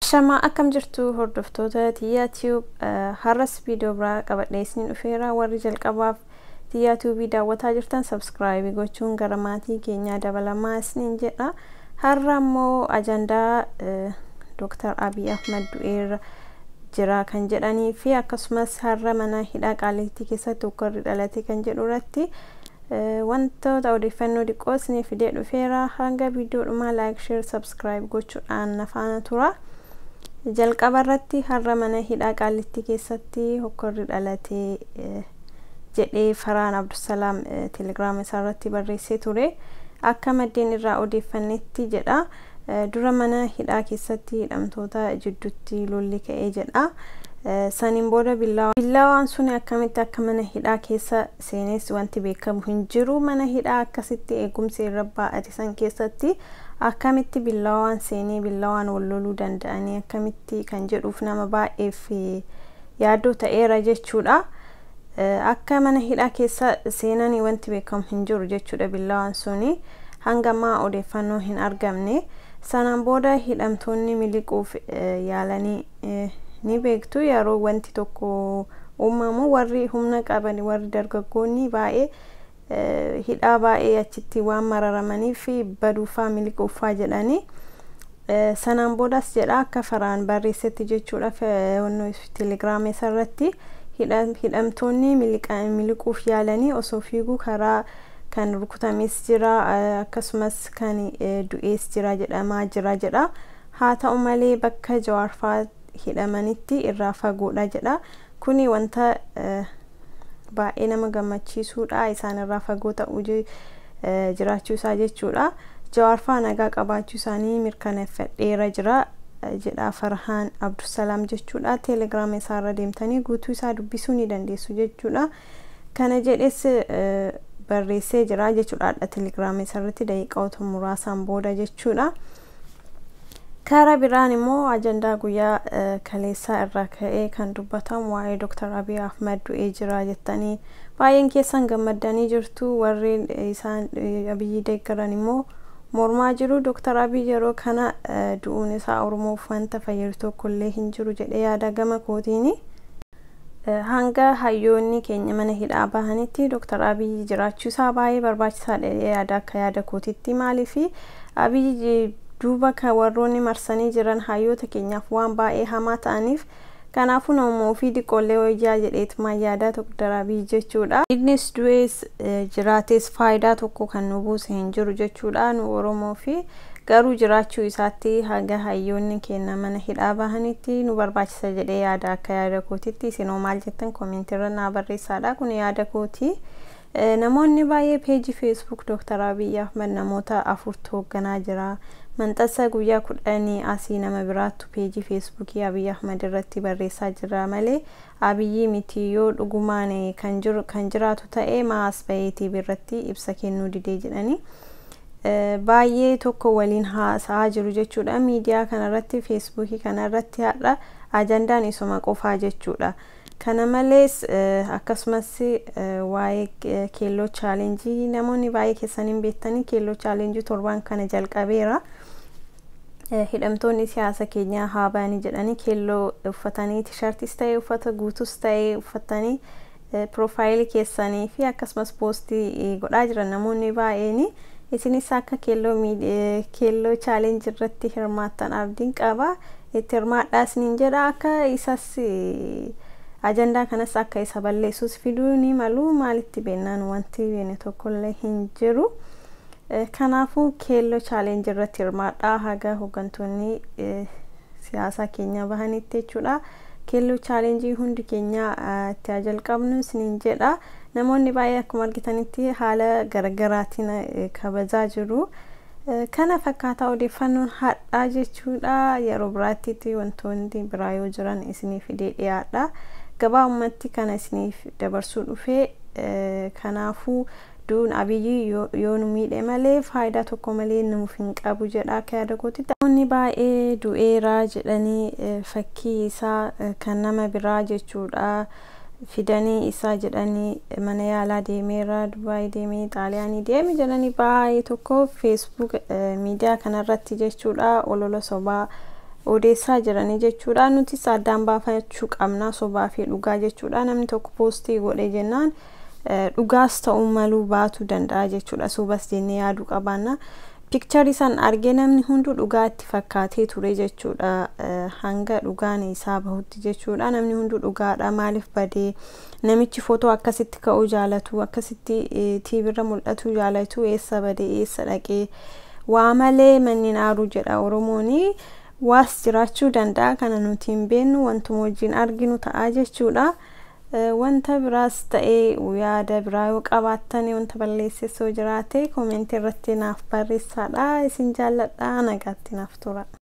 Shamaa akkam jirtu hordoftoota Tiyyaa Tiyuub har'as viidiyoo biraa qabadhee isiniin dhufeera warri jalqabaaf Tiyyaa Tiyuubii daawwataa jirtan sabskraayibii gochuun gara maatii keenyaa dabalamaa isiniin jedha har'a immoo ajandaa Dooktar Abiy Ahmad du'eerra jira kan jedhanii fi akkasumas har'a mana hidhaa qaaliittii keessatti ukkarri dhalate kan jedhu irratti wantoota odeeffannoo diqqoo isinii fidee dhufeera hanga viidiyoo dhumaa laayik sheer sabskiraayib gochuudhaan na faana tura jalqaba irratti har'a mana hidhaa qaaliittii keessatti ukkarri dhalate jedhee faraan abdusalaam telegiraama isaa irratti barreessee ture akka maddeen irraa odeeffannetti jedha Dura mana hidhaa keessatti hidhamtoota jiddutti lolli ka'ee jedha. Saniin booda billaawaan. Billaawaan suni akkamitti akka mana hidhaa keessa seenes wanti beekamu hin jiru. Mana hidhaa akkasitti eegumsi irra baa'ate san keessatti akkamitti billaawaan seenee billaawaan wal loluu danda'anii akkamitti kan jedhuuf nama baay'eef yaaddoo ta'eera jechuudha. Akka mana hidhaa keessa seenani wanti beekamu hin jiru jechuudha billawaan suni hanga ammaa odeeffannoo hin argamne. Sanaan booda hidhamtoonni miliquuf yaalanii ni beektu yeroo wanti tokko uumamu warri humna qaban warri dargaggoonni baay'ee hidhaa baay'ee achitti waan mararamaniif baduufaa miliquuffaa jedhanii sanaan boodas jedha akka faraan barreessetti jechuudha telegiraamii isarratti hidhamtoonni miliquuf yaalanii osoo fiiguu karaa kan rukutames jira akkasumas kan du'ees jira jedhamaa jira jedha haa ta'u malee bakka jawaarfaa hidhamanitti irraa fagoodha jedha Kuni wanta baay'ee nama gammachiisuudha. Isaan irraa fagoo ta'uu jiraachuu isaa jechuudha. Jawaar faa nagaa qabaachuu isaanii mirkaneeffadheera jira jedha Farhaan Abdusalaam jechuudha. Telegram isaa irra deemtanii guutuu isaa dubbisuu ni dandeessu jechuudha. Kana jedhes barreessee jira jechuudha. Hadha Telegram isaa irratti daqiiqaota muraasaan booda jechuudha. Kara biraan immoo ajandaa guyyaa kaleessaa irraa ka'ee kan dubbatamu waa'ee Dr. Abiy Ahmed du'ee jira jettanii baay'een keessan gammaddanii jirtu warreen isaan Abiyyi deeggaran immoo mormaa jiru. Dr. Abiy yeroo kana du'uun isaa Oromoof wanta fayyadu tokko illee hin jiru jedhee yaada gama kootiini. Hanga hayyoonni keenya mana hidhaa bahanitti Dr. Abiyyi jiraachuu isaa baay'ee barbaachisaadha jedhee yaada akka yaada kootitti maaliifi Abiyyi duuba kan warroonni marsanii jiran hayyoota keenyaaf waan baay'ee hamaa ta'aniif kanaafuu namuma ofii diqqoollee wayyaa jedheetumaan yaadaa Dr. Abiyyi jechuudha. Innis du'ees jiraatees faayidaa tokko kan nu buuse hin jiru jechuudha nu Oromoo fi Garuu jiraachuu isaatti haga hayyoonni keenna mana hidhaa bahanitti nu barbaachisa jedhee yaada akka yaada kootitti isin hoo maal jettan comment irra naa barreessaadha kun yaada kooti namoonni baay'ee page facebook Dr. Abiy Ahmed namoota afurtu hoogganaa jira manxassa guyyaa kudhanii asii nama biraattu page facebook Abiy Ahmed irratti barreessaa jira malee Abiyii mitii yoo dhugumaan kan jiru kan jiraatu ta'e maa as bahee TV irratti ibsa kennuu didee jedhani baay'ee tokko waliin haasa'aa jiru jechuudha miidiyaa kana irratti feesbuukii kana irratti har'a ajandaan isuma qofaa jechuudha kana malees akkasumas waa'ee keelloo chaalenjii namoonni baay'ee keessan hin beektanii keelloo chaalenjii torbaan kana jalqabeera Hidhamtoonni siyaasa keenyaa haa bahanii jedhanii keelloo uffatanii tishartis ta'e uffata guutus ta'e uffattanii piroofaayilii keessanii fi akkasumas poostii godhaa jiran namoonni baay'een isinis akka keelloo keelloo chaalenji irratti hirmaattan abdiin qaba itti hirmaadhaa isiniin jedha akka isas ajandaa kanas akka isa balleessus fiduu ni malu maalitti beennaan wanti beene tokkollee hin jiru. Kanaafuu Keelloo Challenge irratti hirmaadhaa haga hoggantoonni siyaasaa keenyaa bahanitti jechuudha. Keelloo Challenge hundi keenyaa itti haa jalqabnu isiniin jedha. Namoonni baay'ee akkuma argitanitti haala garagaraatiin kabajaa jiru. Kana fakkaataa odeeffannoon hadhaa jechuudha. Yeroo biraattitti wantoonni biraa yoo jiran isinii fidee dhiyaadha. Gabaabumatti kana isiniif dabarsuu dhufee kanaafuu Du'uun Abiy yoo nu miidhe malee faayidaa tokko malee nuuf hin qabu jedha akka yaada kootitti. Namoonni baay'ee du'eera jedhanii fakkii isaa kan nama biraa jechuudha fidanii isaa jedhanii mana yaalaa deemeera, Dubaay deeme, Xaaliyaanii deeme jedhanii baay'ee tokko Facebook miidiyaa kanarratti jechuudha olola sobaa odeessaa jiranii jechuudha. Nutis addaan baafachuu qabna sobaa fi dhugaa jechuudha. Namni tokko poostii godhe jennaan dhugaas ta'uu maluu baatu danda'a jechuudha sobas jennee yaaduu qabaanna pikcharii san argee namni hunduu dhugaa itti fakkaatee ture jechuudha hanga dhugaan isaa bahutti jechuudha namni hunduu dhugaadha maaliif badee namichi footoo akkasitti ka'uu jaalatu akkasitti tiibirra mul'atuu jaalatu eessa badee eessa dhaqee waa malee manneen aaruu jedha oromooni waas jiraachuu danda'a kana nuti hin beennu wantuma wajjin arginu ta'a jechuudha. Wanta biraas ta'e yaada biraa yoo qabaattan wanta balleesses yoo jiraate comment irratti naaf barreessaadha. Isin jaalladha nagaatti naaf tura.